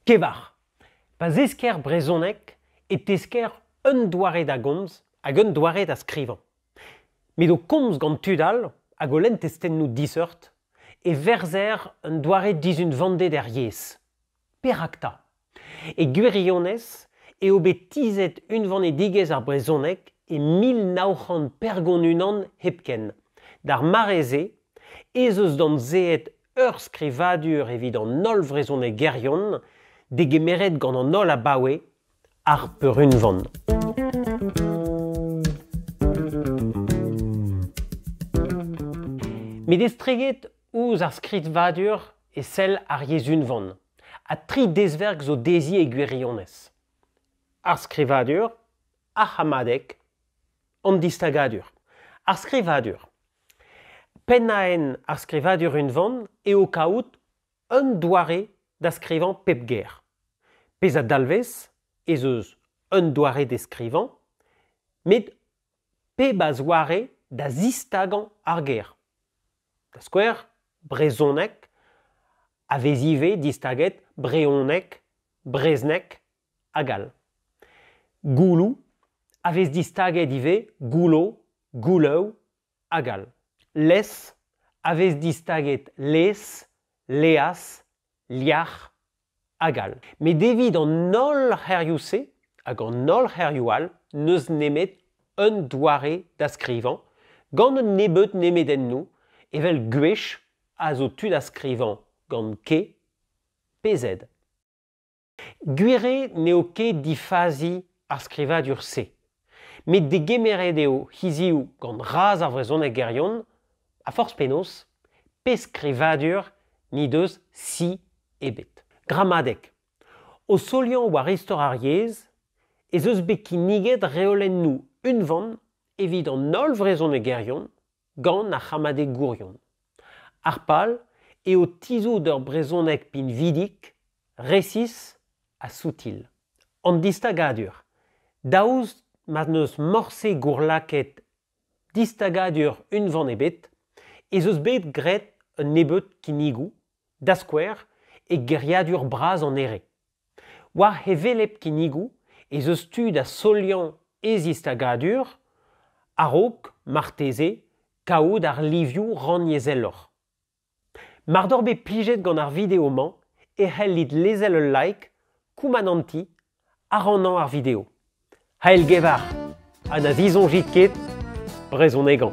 Kevar. Pa zesker brezhoneg e tesker un doare da gomz hag un doare da skrivañ. Met o komz gant tud all hag o lenn testennoù diseurt e verzer un doare dizunvanded er yezh. Perak 'ta? E gwirionez eo bet tizhet unvanedigezh ar brezhoneg e mil nav c'hant pergont-unan hepken. D'ar mare-se ez eus damzeet ur skrivadur evit an holl vrezhonegerion degemeret gant an holl abaoe ar peurunvan. Met estreget ouzh ar skrivadur e sell ar yezh unvan, ha tri dezverk zo dezhi e gwirionez. Ar skrivadur, ar c'hammadeg, an distagadur, ar skrivadur. Pennaenn ar skrivadur unvan eo kaout un doare da skrivañ pep ger. Pezh a dalvez ez eus un doare d'e skrivañ, met pep a zoare da zistagañ ar ger. Da skouer, brezhoneg a vez ivez distaget brehoneg, brezhneg, hag all. Gouloù a vez distaget ivez, goullo, gouloù hag all. Les a vez distaget les, leas, liac'h hag all. Met evit an holl c'herioù-se, hag an holl c'herioù all, n'eus nemet un doare da skrivañ, gant un nebeud nemedennoù, evel gwech a zo tu da skrivañ gant K pe Z. Gwir eo n'eo ket difazi ar skrivadur-se, met degemeret eo hiziv gant razh ar vrezhonegerion, ha forzh penaos, pe skrivadur n'he deus si ebet. Gramadeg. O soliañ war istor ar yezh ez eus bet kinniget reolennoù unvan evit an holl vrezhonegerion gant ar c'hamadegourion. Ar pal eo tizhout ur brezhoneg pinvidik, resis ha soutil. An distagadur, daoust ma n'eus morse gourlakaet distagadur unvan ebet, ez eus bet graet un nebeud kinnigoù, da skouer e geriadur bras an Here. War hevelep kinnigoù ez eus tu da soliañ e zistagadur a-raok marteze kaout ar livioù rannyezheloc'h. Mar doc'h bet plijet gant ar video-mañ e c'hellit lezel ul like, koumanantiñ ha rannañ ar video. Heilgevar ha na disoñjit ket brezhonegañ.